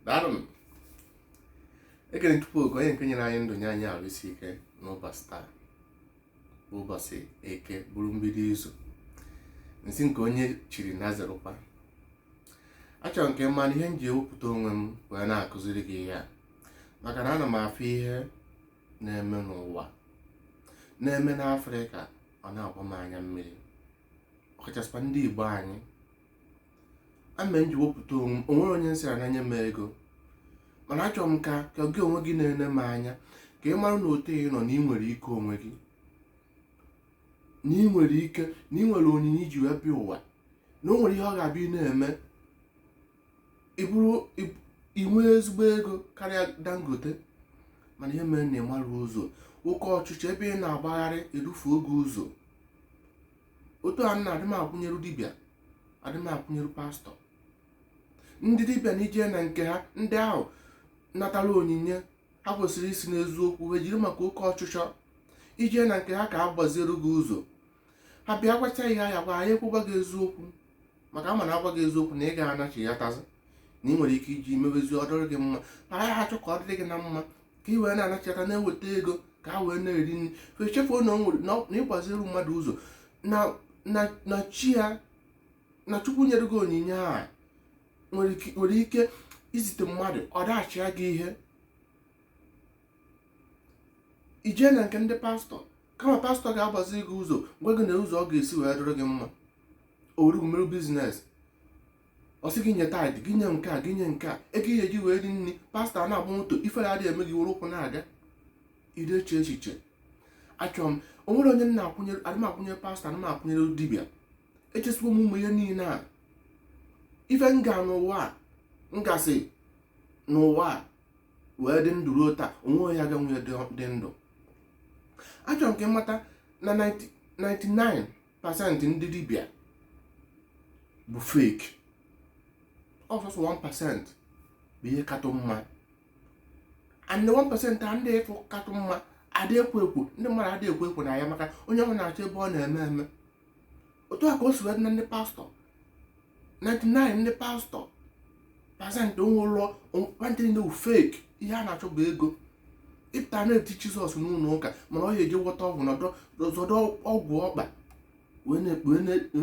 daalụnụ ekele m chukwu oke onye nke nyere anyị ndụ nye anyị arụ isi ike n'ụbọchị taa bụ ụbọchị eke bụrụ mbido izu m sị nke onye chiri nya zerụkwa achọrọ m ka ị mara na ihe m ji ewepụta onwe m wee na-akụziri gị ihe a maka na ana m afụ ihe na-eme n'ụwa na-eme n'afrịka ọ na-agba m anya mmiri ọkachasịkwa ndị igbo anyị ya mere m ji wepụta onwe m onwere onye m sịrị nya nye m ego mana achọrọ m ka ka gị onwe gị na-ene m anya ka ị mara na otu ị nọ na ị nwere ike onwe gị na ị nwere ike na ị nwere onyinye ị ji wee bịa ụwa na o nwere ihe ọ ga-abụ ị na-eme ị bụrụ ị- ị nwee ezigbo ego karịa dangote mana ihe mere na ị marọ ụzọ oke ọchịchọ ebe ị na-agbagharị edufuo gị ụzọ otu a na adị m akwụnyeru dibịa adị m akwụnyeru pastọ ndị dibịa na i jee na nke ha ndị ahụ natara onyinye ha kwesịrị isi n'eziokwu ha jiri maka oke ọchịchọ i jee na nke ha ka a gbaziere gị ụzọ ha bịa gwacha gị ihe ha ya-agwa ha ya ekwe gwa gị eziokwu maka ha ma na ha gwa gị eziokwu na ị gaghị anachiyatazị na ị nwere ike iji mebezi ọ dịrị gị mma ha achọ ka ọ dịrị gị na mma ka ị wee na-anachata na-eweta ego ka ha wee na-eri nri fa echefuo na o nwere na ọ- na ịgbaziri mmadụ ụzọ na na na chi ya na chukwu nyere gị onyinye a nwere ike- nwere ike izite mmadụ ọ dashịa gị ihe i jee na nke ndị pastọ kama pastọ ga-agbazi gị ụzọ gwa gị na ụzọ ọ ga-esi wee dịrị gị mma o weru gị mere biznes ọ sị gị nye tithe gị nye nke a gị nye nke a ego ị ya-eji wee rie nri pastọ na-agba moto ifere adịghị eme gị were ụkwụ na-aga ị dị eche echiche achọrọ m o nwere onye m na-akwụnyere adị m akwụnyere pastọ adị m akwụnyere dibịa echesiwo m ụmụ ihe niile a ife m ga n'ụwa a m gasị n'ụwa a wee dị ndụ ruo taa onwe onye aga nwunye dị ndụ achọrọ m ka ị mata na 99 pasentị ndị dibịa bụ fake ọ sọsọ 1% bụ ihe katụ mma and 1% a ndị ị fụ katụ mma adị ekwo ekwo ndị mmadụ adị ekwo ekwo na ya maka onye ọbụla na-achọ ebe ọ na-eme eme otu a ka o si wee dị na ndị pastọ 99 ndị pastọ pasentị onwe ụlọ nwantịrị na fake ihe ha na-achọ bụ ego ị pụta na-eti jizọs n'ụlọ ụka mana ọ ya-eje gwọta ọgwụ na-azọdo ọgwụ ọkpa wee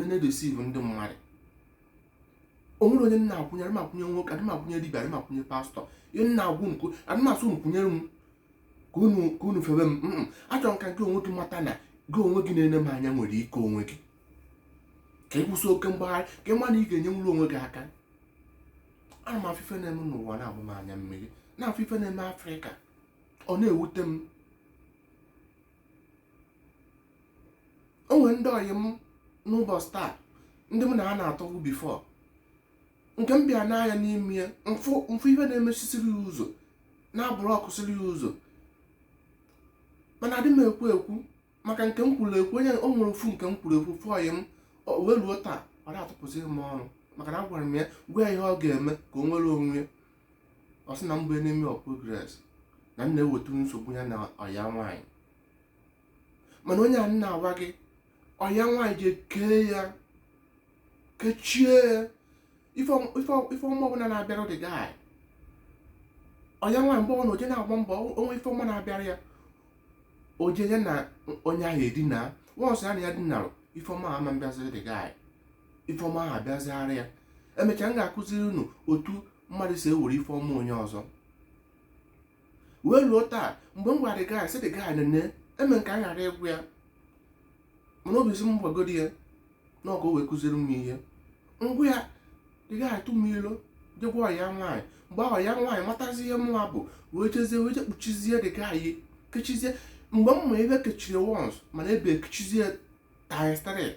na-edeceive ndị mmadụ onwere onye m na-akwụnyere m akwụnye nwoke adị m akwụnye dibia adị m akwụnye pastọ ihe m na-agwa unu adị m asị unu kwụnyere m ka unu febe m achọrọ m ka gị onwe gị mata na gị onwe gị na-ene m anya nwere ike onwe gị ka ị kwụsị oke mgbagharị ka ị ma na ị ga-enyenwuru onwe gị aka ana m afụ ife na-eme n'ụwa na-agba m anya mmiri na-afụ ife na-eme afrịka ọ na-ewute m o nwere ndị ọyị m n'ụbọchị taa ndị m na ha na-atọbu before nke m bịa nee anya n'ime ya m fụ ife na-emechisiri ya ụzọ na-abụrụ ọkụsiri ya ụzọ mana adị m ekwu ekwu maka nke m kwuru ekwu onye o nwere ofu nke m kwuru ekwu ofu ọyị m wee ruo taa ọ na-atụpụzi m ọnụ maka na agwara m ya gwa ya ihe ọ ga-eme ka o nwere onwe ya ọ sị na m bụ enemy of progress na m na-eweta nsogbu ya na ọya nwaanyị mana onye a m na-agwa gị ọya nwaanyị je kee ya kechie ya ife ọma ọbụla na-abịara the guy ọya nwaanyị mgbe ọbụna o je na-agba mbọ o nwee ife ọma na-abịara ya o je ya na onye ahụ edina once ya na ya dinarụ ife ọma ama abịaziri the guy ife ọma ahụ abịaziara ya emechaa m ga-akụziri unu otu mmadụ si ewere ife ọma onye ọzọ wee luo taa mgbe m gwara the guy sị the guy nene eme nke a ghara ịgwa ya mana obi si m gwagodi ya na ọka o wee kụziri m ihe m gwa ya the guy atụ m ilo jegwa ọya nwaanyị mgbe ọya nwaanyị matazi ihe mụwa bụ wee jezie wee je kpuchizie the guy anya kechizie mgbe m ma ebe kechiri once mana ebe ekechizie times 3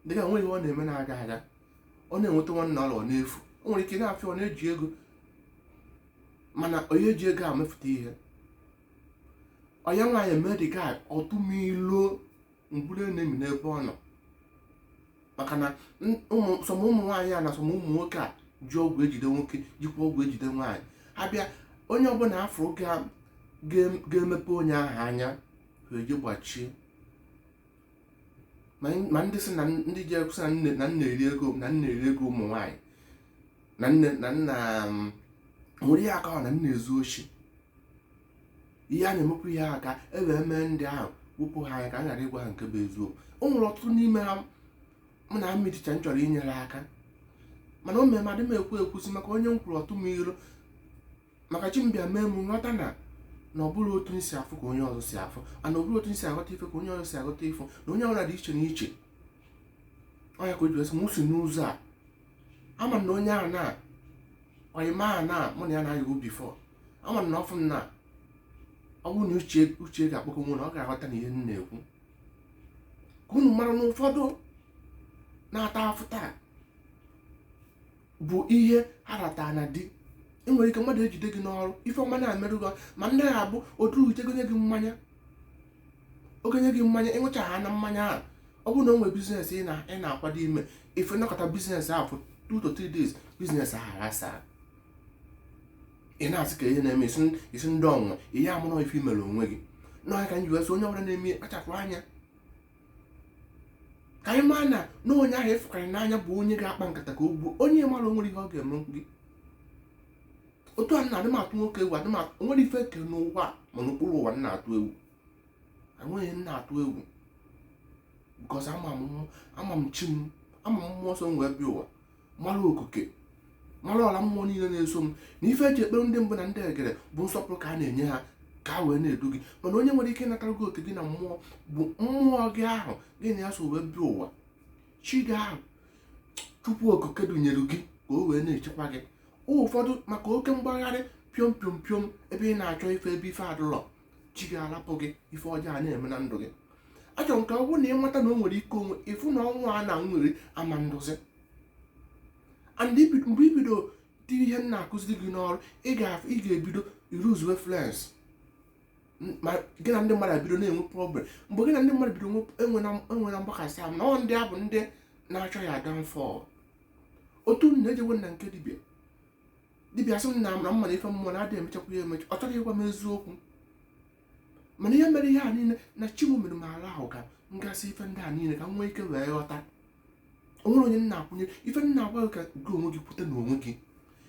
the guy nwe ihe ọ na-eme na-aga aga ọ na-enweta nwanne ọla ọ na-efu o nwere ike ị na-afụ ya ọ na-eji ego mana onye ji ego a mefụta ihe ọya nwaanyị mee the guy ọ tụ m ilo m bụrụ enemy n'ebe ọ nọ maka na some ụmụ nwaanyị a na some ụmụ nwoke a ji ọgwụ ejide nwoke jikwa ọgwụ ejide nwaanyị ha bịa onye ọbụla a fụrụ ga-emepe onye ahụ anya ha eji gbachie ma ndị si na ndị ji ekwusa na m na-eri ego na m na-eri ego ụmụ nwaanyị na nne na nna um, nwere ihe aka na m na-ezu oshi ihe a na-emekwa ihe a ka e wee mee ndị ahụ wepụ ha anya ka a ghara ịgwa ha nke bụ eziokwu o nwere ọtụtụ n'ime ha mụ na mmiricha m chọrọ inyere aka mana o mere m adị m ekwu ekwusi maka onye m kwuru ọ tụ m ilo maka chi m bịa mee m m ghọta na na ọ bụrọ otu m si afụ ka onye ọzọ si afụ ana ọ bụrọ otu m si aghọta ife ka onye ọzọ si aghọta ife na onye ọbụla dị iche na iche ọ ya ka o ji wee sị m si n'ụzọ a ama m na onye a na ọyị m a na mụ na ya na-ayịbu before ama m na ọ fụ m na ọ bụrụ na uche uche ga-akpọkọ onwe na ọ ga-aghọta na ihe m na-ekwu ka unu mara na ụfọdụ na-ata afụfụ taa bụ ihe ha rata na di i nwere ike mmadụ ejide gị n'ọrụ ife ọma na-emerụ gị ma ndị na-abụ otu uche gị nye gị mmanya ọ ga-enye gị mmanya ị ṅụchaana mmanya ahụ ọ bụrụ na o nwere biznes ị na-akwado ime ife nọkọta biznes ahụ for two to three days biznes ahụ aghasaa ị na-asị ka ihe na-eme isi ndị ọnwa ihe amụrụ ife i mere onwe gị n'ọnya ka anyị wee sị onye ọbụla na-eme kpachapụ anya ka anyị maa na na onye ahụ ị fụkarị n'anya bụ onye ga-akpa nkata ka o gbuo onye mara o nwere ihe ọ ga-eme gị otu a na-adị m atụ nwoke egwu adị m atụ o nwere ife e kere n'ụwa ma n'okpuru ụwa m na-atụ egwu enweghị m na-atụ egwu bikọs ama m chi m ama m mmụọ nsọ m wee bịa ụwa mara okike mara ọra mmụọ niile na-eso m na ife e ji ekpere ndị mbụ na ndị egede bụ nsọpụrụ ka a na-enye ha ka ha wee na-edu gị mana onye nwere ike ịnatara gị oke gị na mmụọ bụ mmụọ gị ahụ gị na ya so wee bịa ụwa chi gị ahụ chukwu okike dunyere gị ka o wee na-echekwa gị ụfọdụ maka oke mgbagharị piom piom piom ebe ị na-achọ ife ebe ife adịrọ chi gị alapụ gị ife ọjọọ ana-eme na ndụ gị achọrọ m ka ọ bụrụ na ị mata na o nwere ike o nwee ife na ọnwa a na nwere ama ndozi and mgbe i bido tie ihe m na-akụziri gị n'ọrụ ị ga-ebido ịluzuwe friends ma gị na ndị mmadụ ebido na-enwe problem mgbe gị na ndị mmadụ bido enwena mgbakasị ahụ na ọ ndị a bụ ndị na-achọ your downfall otu m na-ejewe na nke dibia dibia sị m na amara mma na ife mmụọ na-adị emechakwa ya emecha ọ chọghị ịgwa m eziokwu mana ihe mere ihe a niile na chi m mere m ala ahụ ka m gasị ife ndị a niile ka m nwee ike wee ghọta o nwere onye m na-akwụnye ife m na-agwa gị ka gị onwe gị pụta n'onwe gị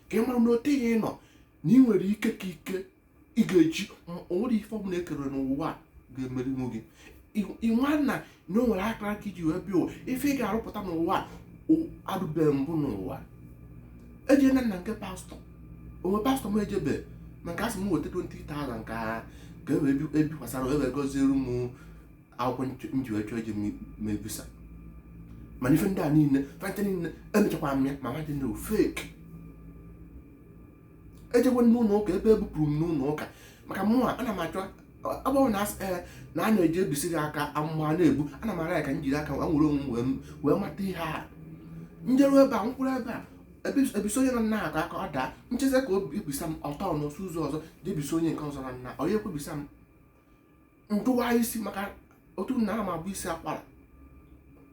ka ị mara na ote ihe ị nọ na ị nwere ike ka ike ị ga-eji o nwere ife ọbụla e kere n'ụwa ga-emerinwu gị ịnwa na na o nwere akara aka i ji wee bịa ife ị ga-arụpụta n'ụwa adịbeghị mbụ n'ụwa ejena m na nke pastọ o nwee pastọ m ejebe maka a sị m weta 20,000 ka ka e wee ebikwasara e wee gọziere m akwụkwọ m ji wee chọọ ije ma visa mana ife ndị a niile fanta niile emechakwara m ya ma nwa dị na ọ fake ejego n'ụlọ ụka ebe e bupụrụ m n'ụlọ ụka maka mụnwa ana m achọ agbanwe na eh, na a na-eji ebisa gị aka amụma na-ebu ana m ara ya ka m jiri aka wee nwere onwe wee mata ihe a njeru ebe a nkwụrụ ebe a e bisa onye na nna aka ọ daa nchezi ka ọ bịa bisa m ọtọ n'osu ụzọ ọzọ je bisa onye nke ọzọ na nna onye ekwebisa m ndụwa isi maka otu na ama bụ isi akwara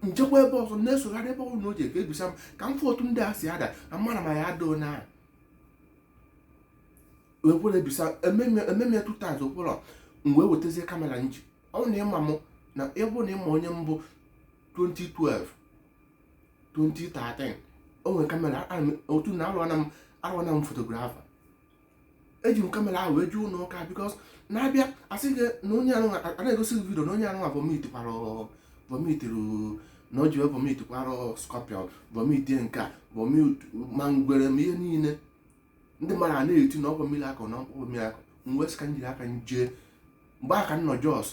njekwa ebe ọzọ na-esogharị ebe ọbụla o ji aka ebisa m ka m fụ otu ndị a si ada na mara ma ya adoo na wepụrụ ebisa ememe two times akwụrụ m wee wetazie kamera m ji ọ na ịma m na ịbụ na ịma onye mbụ 2012 2013 o nwere kamera otu na arụana m arụana m fotografa eji m kamera ahụ wee jee ụlọ ụka because na-abịa asị gị na onye anụ na-egosi gị vidio na onye anụ vomit kwara vomit na o ji wee vomit kwara scorpion vomit nke a vomit ma ngwere ma ihe niile ndị mmadụ a na-eti na ọ bụ miracle na ọ bụ miracle m wee sị ka m jiri aka m jee mgbe ahụ ka m nọ jos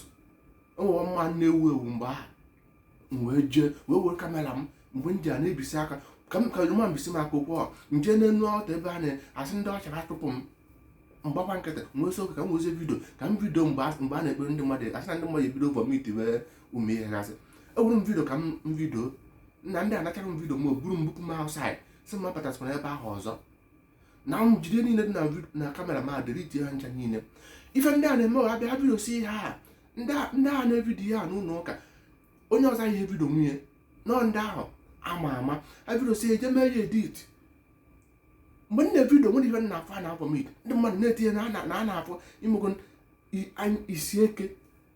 o nwere man na-ewu ewu mgbe ahụ m wee jee wee were kamera m mgbe m ji a na-ebisi aka ka m ka ma mbisi m aka okwu ọ m jee n'enu altar ebe a na-asị ndị usher chụpụ m m gbakwa nkịtị m wee sị ka m wezie vidio ka m vidio mgbe a mgbe a na-ekpere ndị mmadụ asị na ndị mmadụ ebido vomitiwe ụmụ ihe gasị ewere m vidio ka m m vidio nna ndị anachara m vidio m ahụ buru m bupụ m outside sị m abatazikwana ebe ahụ ọzọ na vidio niile dị na kamera m a delete ha ncha niile ife ndị a na-eme ha bịa vidiosia ndị a na-evidio ya n'ụlọ ụka onye ọzọ aya evidio nwunye nọ ndị ahụ ama ama ha vidiosia e jee mee ya edit mgbe m na-evidio o nwerọ ihe m na-afụ a na-avomit ndị mmadụ na-etinye na a na-avomitigo isi eke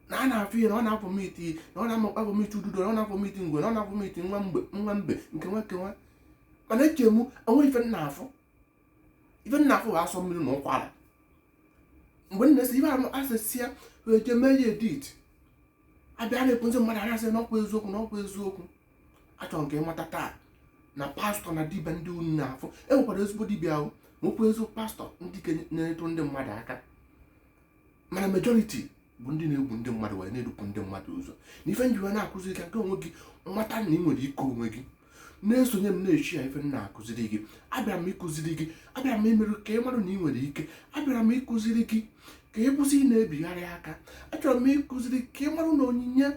na a na-afụ ihe na ọ na-avomit na ọ na-amakwa avomit ududo na ọ na-avomit ngwe na ọ na-avomit nwa mgbe nwa mbe nke nwa nke nwa mana eche m o nwerọ ife m na-afụ ife m na-afụ bụ asọ mmiri na ụkwara mgbe a na-esi ife ahụ asịsịa wee jee mee ya edit a bịa na-egosi ndị mmadụ a na-asị na ọkwa eziokwu na ọkwa eziokwu achọrọ m ka ị mata taa na pastọ na dibịa ndị unu na-afụ e nwekwara ezigbo dibịa nwekwa ezigbo pastọ ndị na-enyetụ ndị mmadụ aka mana majority bụ ndị na-egbu ndị mmadụ wee na-edupụ ndị mmadụ ụzọ na ife m jiwe na-akụziri ka nke onwe gị mata na ị nwere ike onwe gị na-esonye m na-echi ya ife na-akụziri gị abịara m ịkụziri gị abịara m imerụ ka ị marụ na ị nwere ike abịara m ịkụziri gị ka ị kwụsị ị na-ebigharị aka achọrọ m ịkụziri ka ị marụ na onyinye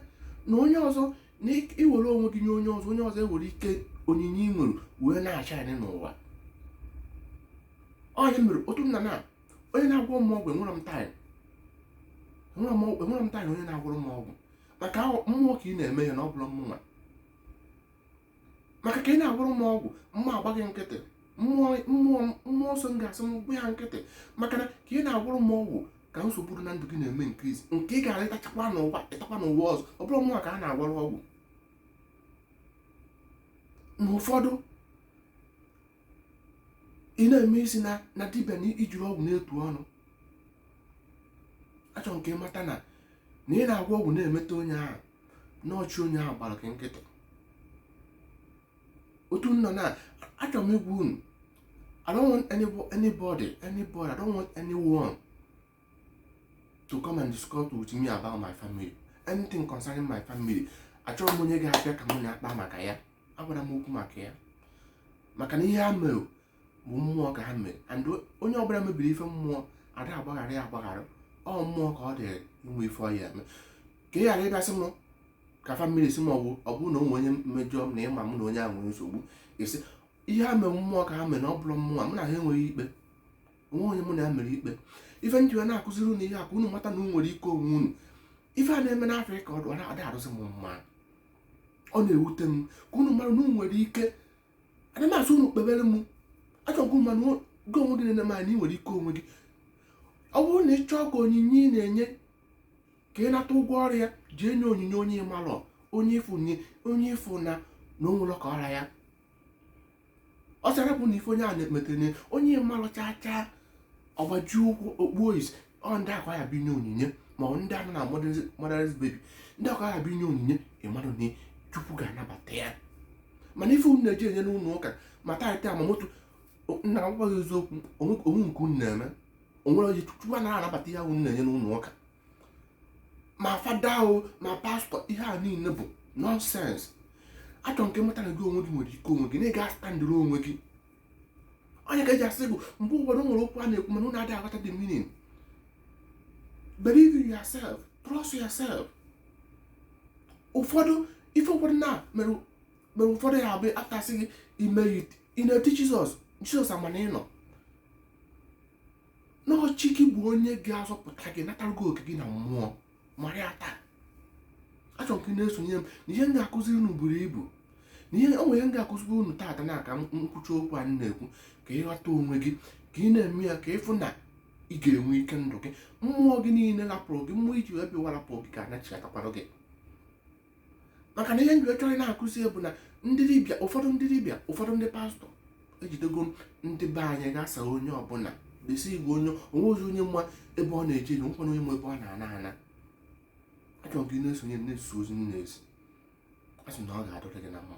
na onye ọzọ na i were onwe gị nye onye ọzọ onye ọzọ ewere ike onyinye ị nwere wee na-ashine n'ụwa onye mere otu nna na onye na-agwọ m ọgwụ enwerọ m time enwerọ m time onye na-agwọrọ m ọgwụ maka mmụọ ka ị na-eme ya na ọ bụrọ mụnwa maka ka ị na-agwọrọ m ọgwụ mụ agba gị nkịtị mmụọ nsọ m ga-asị m gba ya nkịtị maka na ka ị na-agwọrọ m ọgwụ ka nsogbu dị na ndụ gị na-eme increase nke ị ga-ata ị tachakwa n'ụwa ị takwa n'ụwa ọzọ ọ bụrọ mụnwa ka a na-agwọrọ ọgwụ na ụfọdụ ị na-eme isi na na dibịa na i jiri ọgwụ na-etu ọnụ achọrọ m ka ị mata na na ị na-agwọ ọgwụ na-emeta onye ahụ na ọ chi onye ahụ gbara gị nkịtị otu nọ na achọrọ m ịgwa unu I don't want anybody, anybody, I don't want anyone to come and discuss with me about my family. Anything concerning my family. Achọrọ m onye ga-abịa ka m na-akpa maka ya. agwara m okwu maka ya maka na ihe ha mere bụ mmụọ ka ha mere and onye ọbụla mebiri ife mmụọ ada agbaghara ya agbaghara ọ mmụọ ka ọ dịrị ime ife ọ ya-eme ka ị ghara ịbịasị m ka famili si m ọgwụ ọ bụrụ na o nwee onye mejọ m na ịma m na onye ahụ nwere nsogbu esi ihe ha mere mmụọ ka ha mere na ọ bụrụ mmụọ m na ha enweghị ikpe onweghị onye mụ na ya nwere ikpe ife m ji na-akụziri unu ihe a ka unu mata na unu nwere ike onwe unu ife a na-eme n'afrịka ọ da adịsị m mma ọ na-ewute m ka unu mara na unu nwere ike ana m asị unu kpebere m achọ m ka ị ma na gị onwe gị na-ene m anya ị nwere ike onwe gị ọ bụrụ na ị chọọ ka onyinye ị na-enye ka ị nata ụgwọ ọrụ ya jee nye onyinye onye ị malụ onye ị fụ na onye ị fụ na na o nwere ka ọ ra ya ọ sara bụ na ife onye a na-emetene onye ị malụ chaa chaa ọ gbaji ụkwụ o kpuo isi ọ ndị a ka ị ya binye onyinye ma ọ ndị a nọ na motherless baby ndị a ka ị ya binye onyinye ị malụ na chukwu ga-anabata ya mana ife unu na-eji enye n'ụlọ ụka ma taịt ma moto m na-agwa gị eziokwu onweghị nke unu na-eme onwere onye chukwu anaghị anabata ihe unu na-enye n'ụlọ ụka ma fada o ma pastọ ihe a niile bụ nọnsens achọrọ m ka ị mata na gị onwe gị nwere ike onwe gị na ị ga-astandịrị onwe gị ọ ya ka e ji asị gị mgbe ụfọdụ nwere okwu a na-ekwu mana unu adịghị aghọta the meaning believe in yourself trust yourself ụfọdụ ife ụfọdụ na mere mere ụfọdụ ya abụ ife a sị gị mee ị na-eti jizọs jizọs amaghị na ọ na ọ chi gị bụ onye ga-azọpụta gị natara gị oke gị na mmụọ mara ya taa achọrọ m ka ị na-esonye m na ihe m ga-akụziri unu buru ibu na ihe o nwere ihe m ga-akụziri unu taata na ka m kwucha okwu a m na-ekwu ka ị ghọta onwe gị ka ị na-eme ya ka ị fụ na ị ga-enwe ike ndụ gị mmụọ gị niile lapụrụ gị mmụọ i ji wee bịa ụwa lapụrụ gị ga-anachighatakwara gị maka na ihe m ji achọ ịna-akụzi bụ na ndị dibịa ụfọdụ ndị dibịa ụfọdụ ndị pastọ ejidego ndị be anyị gasa onye ọbụla desi igwe onye onweghị onye ma ebe ọ na-eje na onwekwaghị onye ma ebe ọ na-ana ana achọrọ m gị na-esonye na-eso ozi m na-ezi asị na ọ ga-adịrị gị na mma